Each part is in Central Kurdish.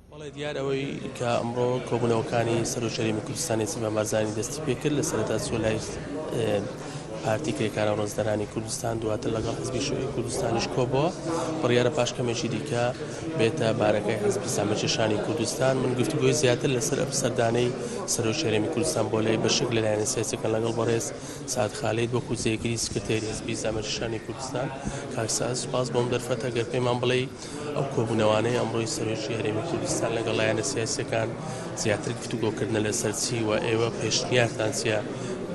بەڵێ دیار ئەوەی کە ئەمڕۆ کۆبوونەوەکانی سەر و شەریمی کوردستانی سیمان بارزانانی دەستی پێکرد لە سەرتا چۆ لای پارتی کرێکارە ڕۆزدەرانی کوردستان دواتر لەگەڵ حزبی شوعی کوردستانیش کۆبەوە بڕیاە پاشکەمێکی دیکە بێتە بارەکەی حزبی سامەچەشانی کوردستان من گفتگوۆی زیاتر لەسەر ئەم سەردانەی سەرۆ شەرێمی کوردستان بۆ لای بەشک لەلایەن سیاسەکە لەگەڵ بەڕێز سەعد خالید، وەکو جێگری سکرتێری حزبی زامێری شانی کوردستان، کاک سەعد سوپاس بۆ ئەم دەرفەتە گەر پێمان بڵێی ئەو کۆبوونەوانەی ئەمڕۆی سەرۆکی هەرێمی کوردستان لەگەڵ لایەنە سیاسیەکان زیاتر گفتوگۆ کردنە لەسەر چی و ئێوە پێشنیارتان چیە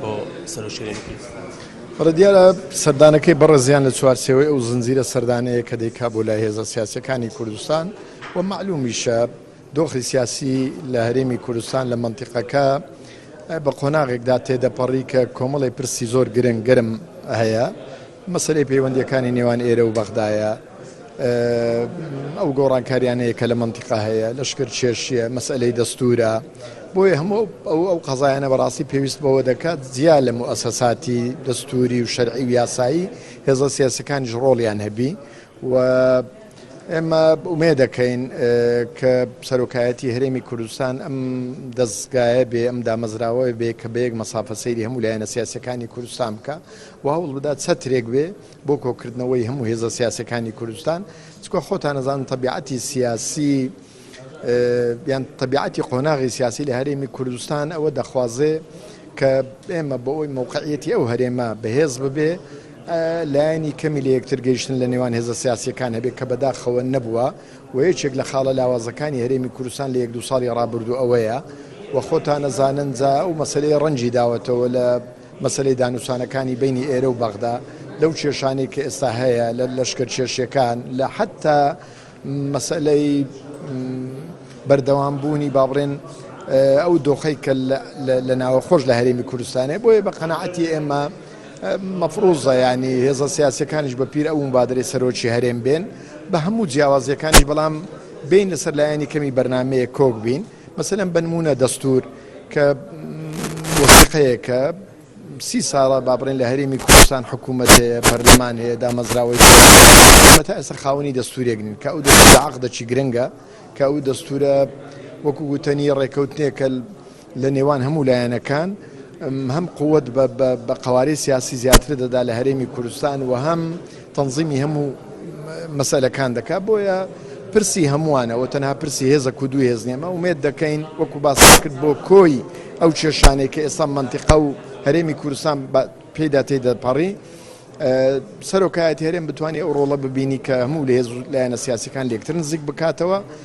بۆ سەرۆکی هەرێمی کوردستان؟ بەڵێ دیارە سەردانەکەی بەڕێزیان لە چوارچێوەی ئەو زنجیرە سەردانەیە کە دەیکا بۆ لای هێزە سیاسیەکانی کوردستان و مەعلومیشە دۆخی سیاسی لە هەرێمی کوردستان لە مەنتیقەکە بە قۆناغێکدا تێدەپەڕی کە کۆمەڵی پرسی زۆر گرنگ گرم هەیە مەسەری پەیوەندیەکانی نێوان ئێرە و بەغدایە ئەو گۆڕانکاریانەیە کە لە منتیقا هەیە لەشکر چێشیە مەسلەی دەستورە بۆیە هەموو ئەو ئەو قەزایانە بەڕاستی پێویست بەوە دەکات جیا لە موسەساتی دەستوری و شەرعی و یاسایی هێزە سیاسەکانیش ڕۆڵیان هەبی و ئێمە ئومێدەکەین کە سەرۆکایەتی هەرێمی کوردستان ئەم دەستگایە بێ ئەم دامەزراوەیە بێ کە بەیەک مەسافە سەیری هەموو لایەنە سیاسەکانی کوردستان بکە و هەوڵ بدات چەترێک بێ بۆ کۆکردنەوەی هەموو هێزە سیاسەکانی کوردستان چکە خۆتان نەزان تەبیعەتی سیاسی یان تەبیعەتی قۆناغی سیاسی لە هەرێمی کوردستان ئەوە دەخوازێ کە ئێمە بە ئەوی مەوقعیەتی ئەو هەرێمە بەهێز ببێ لایەنی کەمی لە یەکتر گەیشتن لە نێوان هێزە سیاسیەکان هەبێت کە بەداخەوە نەبووە و یەکێک لە خاڵە لاوازەکانی هەرێمی کوردستان لە یەک دو ساڵی ڕابردوو ئەوەیە و خۆتانە زانن جا ئەو مەسلەی ڕەنجی داوەتەوە لە مەسلەی دانوسانەکانی بینی ئێرە و بەغدا لەو کێشانەی کە ئێستا هەیە لە لەشکر کێشیەکان لە حتا مەسەلەی بەردەوام بوونی با بڵێن ئەو دۆخەی کە لە ناوەخۆش لە هەرێمی کوردستانێ بۆیە بە قەنەعەتی ئێمە مەفروزە ینی هێزە سیاسەکانیش بە پیر ئەوم بادرێ سەرۆکی هەرێم بێن بە هەموو جیاوازیەکانی بەڵام بین لەسەر لایەنی کەمی بەرنمەیە کۆک بین مەسەلەن بنمونە دەستور کە وەسیقەیەکە سی ساڵە با بڵێن لە هەرێمی کوردستان حکوومەت هەیە پەرلەمان هەیە دامەزراوەی ئەمە تا ئێستا خاوەنی دەستورێک نین کە ئەو دەستورە عەقدەکی گرنگە کە ئەو دەستورە وەکو گوتەنی ڕێکەوتنێکە لە نێوان هەموو لایەنەکان هەم قوت بە قوارەی سیاسی زیاتر دەدا لە هەرێمی کوردستان و هەم تەنزیمی هەموو مەسەلەکان دەکات بۆیە پرسی هەمووانە ئەوە تەنها پرسی هێزە کو دوو هێز نیەمە ومێت دەکەین وەکو باس کرد بۆ کۆی ئەو کێشانەی کە ئێستا منتیقا و هەرێمی کوردستان پێدا تێ دەپەڕی سەرۆکایەت هەرێم بتانی ئەو ڕۆڵە ببینی کە هەموو لە هێز لایەنە سیاسەکان لێکتر نزیک بکاتەوە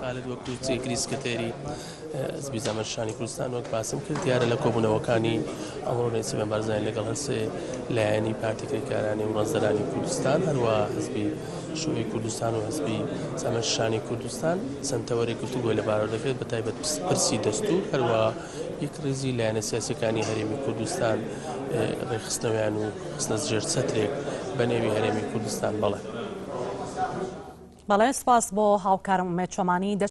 خالد وەک جێگری سکرتێری حزبی زامن شانی کوردستان وەک باسم کرد دیارە لە کۆبوونەوەکانی ئەمڕۆ نێچیرڤان بارزانی لەگەڵ هەر سێ لایەنی پارتی کرێکارانی و ڕەنجدەرانی کوردستان هەروە حزبی شوعی کوردستان و حزبی زامن شانی کوردستان چەند تەوەرێک گفتوگۆی لەبارەوە دەکرێت بە تایبەت پرسی دەستور هەروە یەک ڕیزی لایەنە سیاسەکانی هەرێمی کوردستان ڕێخستنەوەیان و خستنە ژێر چەترێک بە نێوی هەرێمی کوردستان بەڵێ بەڵێ سپاس بۆ هاوکارم ئومێد چۆمانی.